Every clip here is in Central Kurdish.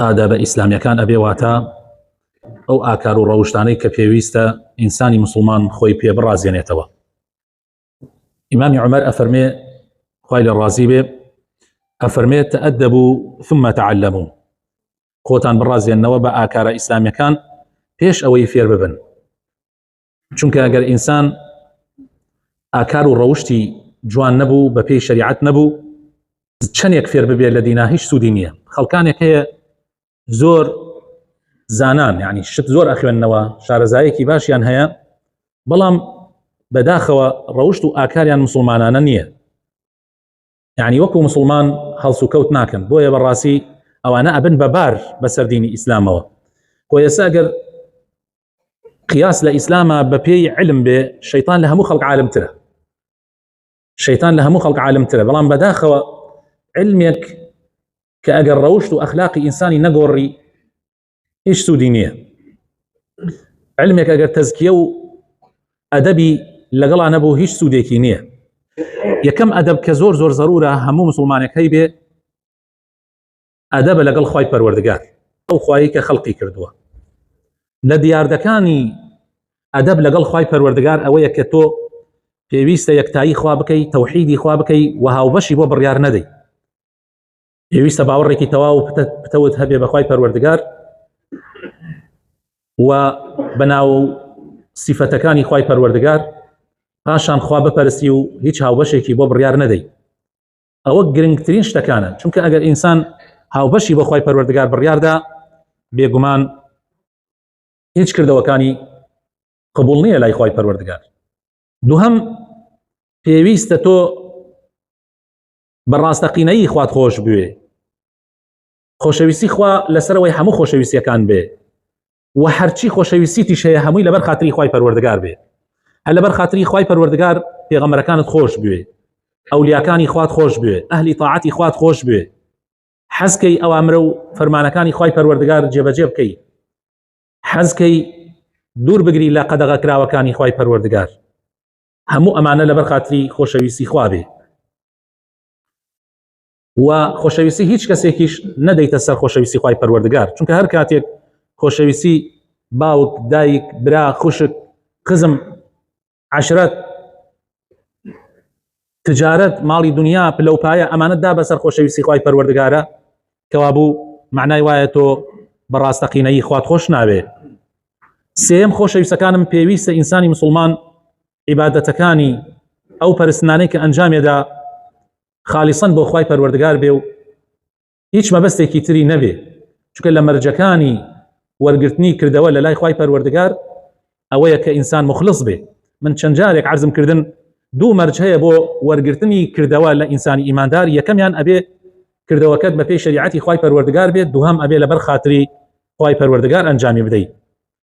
ئادابە ئیسلامیەکان ئەبێ واتە ئەو ئاکار و ڕەوشتانەی کە پێویستە ئینسانی مسلمان خۆی پێ بڕازێنێتەوە ئیمامی عمر ئەفەرمێ خی لە ڕازی بێ ئەفەرمێت تەدە بوو ثمە تعلممو خۆتان بڕازێنەوە بە ئاکارە ئیسلامیەکان پێش ئەوەی فێر ببن چونکە ئەگەر ئینسان ئاکار و ڕەوشتی جوان نەبوو بە پێی شریعت نەبوو چەندێک فێر ببێت لە دینا هیچ سوودی نییە خەڵکانێک هەیە زۆر زانان یعنی شت زۆر ئەخوێندنەوە شارەزایەکی باشیان هەیە بەڵام بەداخەوە ڕەوشت و ئاکاریان مسلمانانە نییە یعنی وەکو مسلمان هەڵس و کەوت ناکەن بۆیە بەڕاستی ئەوانە ئەبن بەبار بەسەر دینی ئیسلامەوە کۆ ئێستا ئەگەر قیاس لە ئیسلامە بە پێی علم بێ شەیتان لە هەموو خەڵک عالمترە شەیتان لە هەموو خەڵک عالمترە بەڵام بەداخەوە علمێک کە ئەگەر ڕەوشت و ئەخلاقی ئینسانی نەگۆڕی هیچ سوودی نییە علمێک ئەگەر تەزکیە و ئەدەبی لەگەڵا نەبوو هیچ سوودێکی نییە یەکەم ئەدەب کە زۆر زۆر زەرورە هەموو مسلمانێک هەی بێ ئەدەبە لەگەڵ خی پەروەردگار ئەو خوایی کە خەڵقی کردووە لە دیاردەکانی ئەدەب لەگەڵ خی پەروەردگار ئەوەیە کە تۆ پێویستە یەکتایی خوا بکەی تەوحیدی خوا بکەی و هاوبەشی بۆ بڕیار نەدەی پێویستە باوەڕێکی تەواو پتەوت هەبێ بەخوای پەروەردگار و بەناو سیفەتەکانی خی پەروەردگار پاشان خوا بپەرسی و هیچ هاوبەشێکی بۆ بڕیار نەدەی ئەوە گرنگترین شتەکانە چونکە ئەگەر ئینسان هاوبەشی بۆ خی پەروەردگار بڕیاردا بێگومان هیچ کردەوەکانی قبول نییە لای خی پەروەردگار دووهم پێویستە تۆ بە ڕاستەقینەیی خوات خۆش بوێ خۆشەویستی خوا لەسەرەوەی هەموو خۆشەویستیەکان بێ و هەرچی خۆشەویستیش هەیە هەمووی لەبەر خااتری خی پەروەردگار بێ هە لەبەر خااتری خی پەروەردگار پێغەمەرەکانت خۆش بوێ ئەولیاکانی خوات خۆش بوێ ئەهلی تاعاتی خوات خۆش بوێ حەزکەی ئەوامرە و فەرمانەکانی خی پەروەردگار جێبەجێ بکەی حەزکەی دوور بگری لە قەدەغە کراوەکانی خی پەروەردگار هەموو ئەمانە لەبەر خاتری خۆشەویستی خوابێ و خۆشەویستی هیچ کەسێکیش نەدەیتە سەر خۆشەویستی خی پەروەردگار چونکە هەر کاتێک خۆشەویستی باوک دایک برا خوشک قزم عشرەت تجارەت ماڵی دنیا پلەپایە ئەمانە دا بەسەر خۆشەویستی خی پەروەردگارە کەوابوو معنای وایە تۆ بەڕاستەقینەیی خوات خۆش ناوێ سێم خۆشەویستەکانم پێویستە ئینسانی مسلمان عیباەتەکانی ئەو پەرستنانەی کە ئەنجامێدا خالیسن بۆ خی پەروەردگار بێ و هیچ مەبەستێکی تری نەبێ چکە لە مەرجەکانی وەرگرتنی کردەوە لە لای خی پەروەردگار ئەوەیە کە ئینسان موخلص بێ من چەند جارێک عەرزم کردن دوو مەرج هەیە بۆ وەرگرتنی کردەوە لە ئینسانی ئیماندار یەکەمیان ئەبێ کردەوەکەت بە پێی شەریعەتی خوای پەروەردگار بێت دووهەم ئەبێ لەبەر خاتری خوای پەروەردگار ئەنجامی بدەیت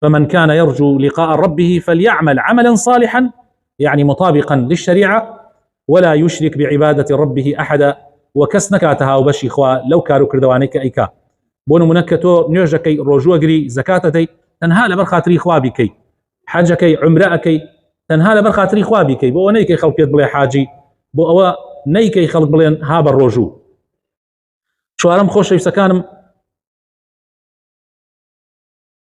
فمن كان يرجو لقاء ربه فليعمل عملا صالحا يعني مطابقا للشريعة ولا یشرک بعبادەتی ربه احدا و کەس نەکاتە هاوبەشی خوا لەو کار و کردوانەی کە ئەیکا بۆ نمونە کە تۆ نوێژەکەی ڕۆژوەگری زەکاتەدەی تەنها لەبەر خاتری خوا بیکەی حەجەکەی عمرە ئەەکەی تەنها لەبەر خاتری خوا بیکەی بۆ نەیکەی خەڵکێت بڵێ حاجی بۆ ئەوە نەیکەی خەڵک بڵێن ها بە ڕۆژوو چوارم خۆشەویستەکانم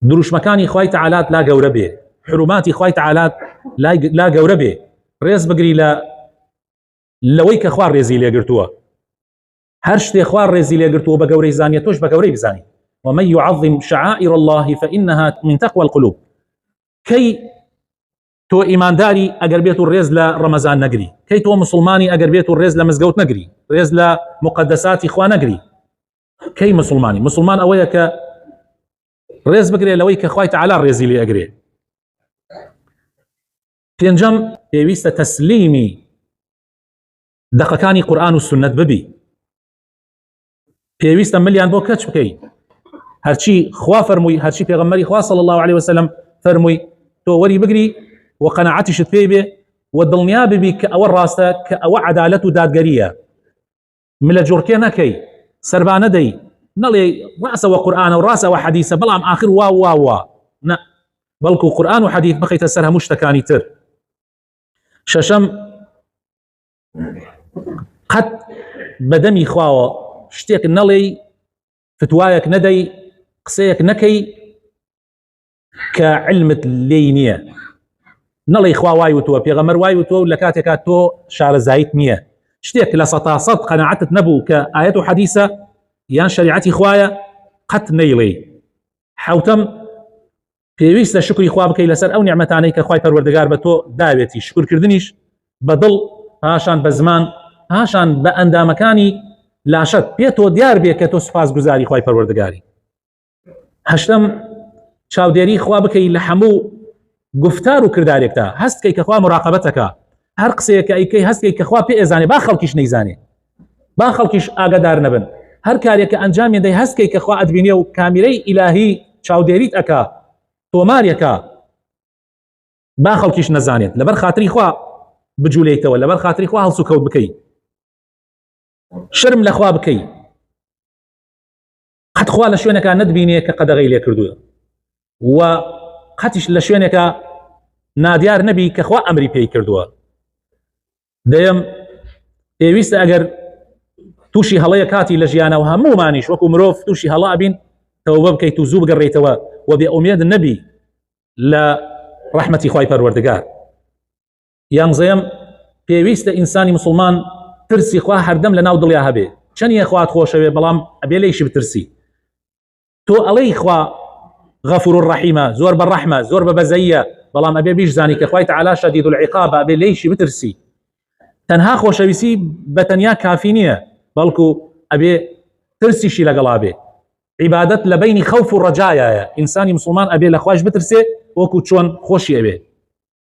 دروشمەکانی خوای تعالات لا گەورە بێ حروماتی خوای تعالات لا گەورە بێ ڕێز بگری لە لەوەی کە خوار ڕێزی لێگرتووە هەر شتێ خوار ڕێزی لێگرتووە بە گەورەی زانیە تۆش بە گەورەی بزانانی ومە يعظم شعائر الله فإنها من تقوى القلوب کەی تۆ ئیمانداری ئەگەر بێت و ڕێز لە ڕەمەزان نەگری کەی تۆ مسلمانی ئەگەر بێت و ڕێز لە مزگەوت نەگری ڕێز لە مقدساتی خوا نەگری کەی مسلمانی مسلمان ئەوەیە کە ڕێز بگرێ لەوەی کە خخوای تعالا ڕێزی لێ ئەگرێ پێنجەم پێویستە تەسلیمی دەقەکانی قورآن و سنت ببی پێویستە ملیان بۆ کەچ بکەیت هەرچی خوا فەرمووی هەرچی پێغمەری خوا صلی الله عليه وسلم فەرمووی تۆ وەری بگری و قەنەعاتیشت پێی بێ و دڵنیا ببی کە ئەوە ڕاستە کە ئەوە عدالەت و دادگەریە ملە جوڕکێ نەکەی سەربانە دەی نەڵێ ڕاستەوە قورآانە و ڕاستەوە حەدیسە بەڵام آخر وا وا وا نە بەڵکو قورآان و حەدیث بخیتە سەر هەموو شتەکانی تر شەشەم قەت بەدەمی خواوە شتێک نەڵێی فتوایەک نەدەی قسەیەک نەکەی کە علمت لێی نییە نەڵی خوا وای وتووە پێغەمەر وای وتووە و لە کاتێکا تۆ شارەزایت نییە شتێک لە سەتا سەد قەنەعەتت نەبوو کە ئاەت و حەدیسە یان شریعەتی خوایە قەت نەیڵێ حوتم پێویستە شکری خوا بکەی لەسەر ئەو نیعممەتانەی کە خی پەروەردەگار بە تۆ داوێتی شکرکردنیش بە دڵ پاشان بە زمان پاشان بە ئەندامەکانی لاشت پێ تۆ دیار بێ کە تۆ سوپاس گوزاری خی پەروەردەگاری هەشتم چاودێری خوا بکەی لە هەموو گفتار و کردارێکدا هەستکەی کەخوا مراقبەتەکە هەر قسەیەکە ئەیکەی هەستکەی کەخوا پێ ئێزانێ با خەڵکیش نەیزانێ با خەڵکیش ئاگادار نەبن هەر کارێکە ئەنجامی دەی هەستکەی کەخوا ئەدبینێ و کامیرەی ئیلاهی چاودێریت ئەکا تۆمارەکە با خەڵکیش نەزانێت لەبەر خاتری خوا بجوولێتەوە لەبەر خاتری خوا هەڵسو کەوت بکەیت شرم لەخوا بکەیت قەت خوا لە شوێنەکە نەتبینێ کە قەدەغی لێ کردووە و قەتیش لە شوێنێکە نادیار نەبی کە خوا ئەمری پێی کردووە دەیەم پێویستە ئەگەر تووشی هەڵەیە کاتی لە ژیانەوە هەمومانیش وەکو مرۆڤ تووشی هەڵا بین تەوبە بکەیت و زوو بگەڕێیتەوە و بێ ئومێد نەبی لە ڕحمەتی خی پەروەردگار یانزەیەم، پێویستە ئینسانی مسوڵمان ترسی خوا هەردەم لە ناو دڵیا هەبێ چەنیە خوات خۆشەوێ بەڵام ئەبێ لەیشی بترسی تۆ ئەڵەی خوا غەفور و ڕەحیمە زۆر بە ڕەحمە زۆر بە بەزەیە بەڵام ئەبێ بیش زانی کە خخوای تعالا شەدید و العقاب ئەبێ لەیشی بترسی تەنها خۆشەویستی بە تەنیا کافی نییە بەڵکو ئەبێ ترسیشی لەگەڵا بێ عیبادت لە بینی خەوف و ڕجایایە ئینسانی مسلمان ئەبێ لە خوش بترسێ وەکو چۆن خۆشی ئەوێ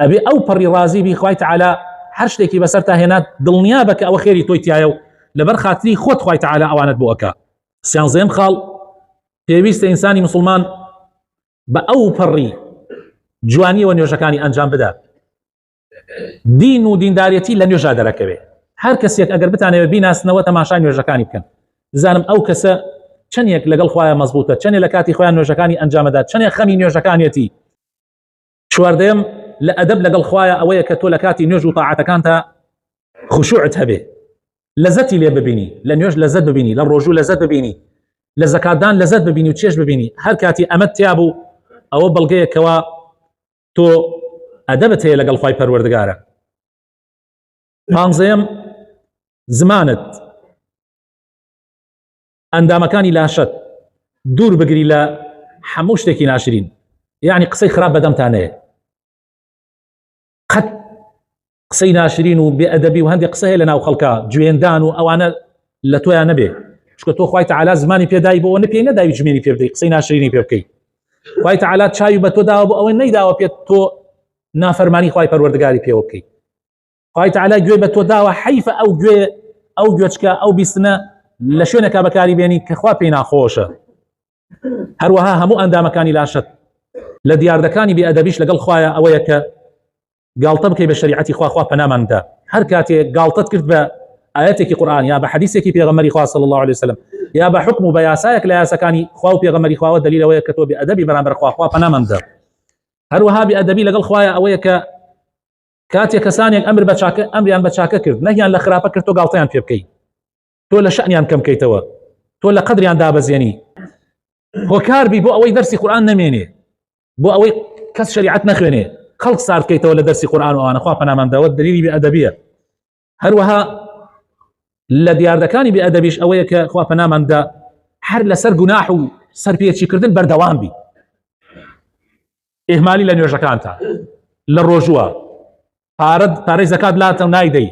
ئەبێ ئەو پەڕی ڕازی بی خوای تعالا هەر شتێکی بەسەر تا هێنات دڵنیا بە کە ئەوە خێری تۆی تایە و لەبەر خاتری خۆت خوای تعالا ئەوانت بۆ ئەکا سیانزەم خاڵ پێویستە ئینسانی مسلمان بە ئەو پەڕی جوانیەوە نوێژەکانی ئەنجام بدات دین و دیندارەتی لە نوێژا دەرەکەوێت هەر کەسێک ئەگەر بتانەوە بیناسنەوە تەماشای نوێژەکانی بکەن بزانم ئەو کەسە چەندێک لەگەڵ خخوایە مەزبوتە چەندێک لە کاتی خۆیان نوێژەکانی ئەنجامەدا چەندێک خەمی نوێژەکانیەتی چواردەیەم، لە ئەدەب لەگەڵ خوایە ئەوەیە کە تۆ لە کاتی نوێژ و تاعەتەکانتا خشوعت هەبێ لەزەتی لێ ببینی لە نوێژ لەزەت ببینی لە ڕۆژوو لەزەت ببینی لە زەکاتدان لەزەت ببینی و چێش ببینی هەر کاتی ئەمەد تیا بوو ئەوە بەڵگەیەکەوە تۆ ئەدەبت هەیە لەگەڵ خی پەروەردگارە پانزەیەم زمانت ئەندامەکانی لاشەت دوور بگری لە هەموو شتێکی ناشرین یعنی قسەی خراپ بەدەمتانەیە قەت قسەی ناشرین و بێ ئەدەبی و هەندێک قسە هەیە لە ناو خەڵکە جوێندان و ئەوانە لە تۆیان نەبێ چکە تۆ خخوای تعالا زمانی پێدای بۆ نە پێی نەداوی جمێنی پێ بدەی قسەی ناشرینی پێ بکەیت خی تعالا چاوی بە تۆ داوە بۆ ئەوەی نەیداوە پێت تۆ نافەرمانی خی پەروەردگاری پێوە بکەیت خوای تعالی گوێ بە تۆ داوە حیفە ئەو گوێ ئەو گوێچکە ئەو بیستنە لە شوێنەکە بەکاری بێنی کە خوا پێی ناخۆشە هەروەها هەموو ئەندامەکانی لاشت لە دیاردەکانی بێئەدەبیش لەگەڵ خوایە ئەوەیە کە گاڵتە بکەی بە شریعەتی خواخوا پەناماندا هەر کاتێ گاڵتت کرد بە ئاەتێکی قورآان یا بە حەدیسێکی پێغەمەری خوا صلی الله عليه وسلم یا بە حکم و بە یاسایەک لە یاسەکانی خوا و پێغەمەری خواوە دلیلەوەیە کە تۆ بێ ئەدەبی بەرامبەر خواخوا پەناماندا هەروەها بێ ئەدەبی لەگەڵ خوایە ئەوەیە کە کاتێک کەسانێک ئەمر بە چاکە ئەمریان بە چاکە کرد نەیان لە خراپە کرد تۆ گاڵتەیان پێ بکەیت تۆ لە شەنیان کەم بکەیتەوە تۆ لە قدریان دابەزێنی هۆکاربی بۆ ئەوەی دەرسی قورآان نەمێنێ بۆ ئەوەی کەس شریعت نەخوێنێ خەڵک ساردکەیتەوە لە دەرسی قورآان وانەخوا پەنامان داوت دەلیلی بە ئەدەبیە هەروەها لە دیاردەکانی بێ ئەدەبیش ئەوەیە کە خوا پەناماندا هەر لەسەر گوناح و سەرپێچیکردن بەردەوام بی ئێهمالی لە نوێژەکانتان لە ڕۆژووە پارەت پارەی زەکات لاتە و نایدەی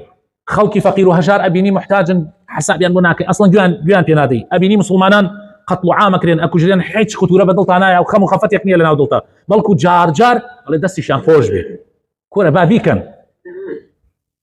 خەڵکی فەقیر و هەژار ئەبینی محتاجن حسابیان بۆ ناکە ئەسڵەن گویان گویان پێنادەی ئەبینی مسلمانان قەتڵ عامەکرێن ئەکوژرێن هیچ خطورە بە دڵتانایە و خەم و خەفەتێک نییە لە ناو دڵتا بەڵکو جارجار ئەڵێ دەستیشان خۆش بێت کۆرە با بیکەن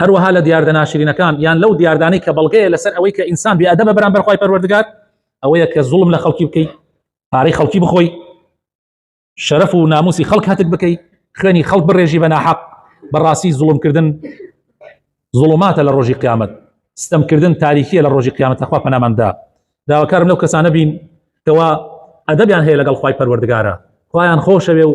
هەروەها لە دیاردە ناشرینەکان یان لەو دیاردانەی کە بەڵگەیە لەسەر ئەوەی کە ئینسان بیادە بە بەرامبەر خی پەروەردگار ئەوەیە کە زوڵم لە خەڵکی بکەیت پارەی خەڵکی بخۆی شەرف و ناموسی خەڵک هەتک بکەیت خوێنی خەڵک بڕێژی بە ناحەق بەڕاستی زوڵمکردن زوڵماتە لە ڕۆژی قیامەت ستەمکردن تاریخیە لە ڕۆژی قیامەت لەخوا پەناماندا داواکارم لەو کەسانە بین کەوا ئەدەبیان هەیە لەگەڵ خی پەروەردگارە خۆیان خۆشەوێ و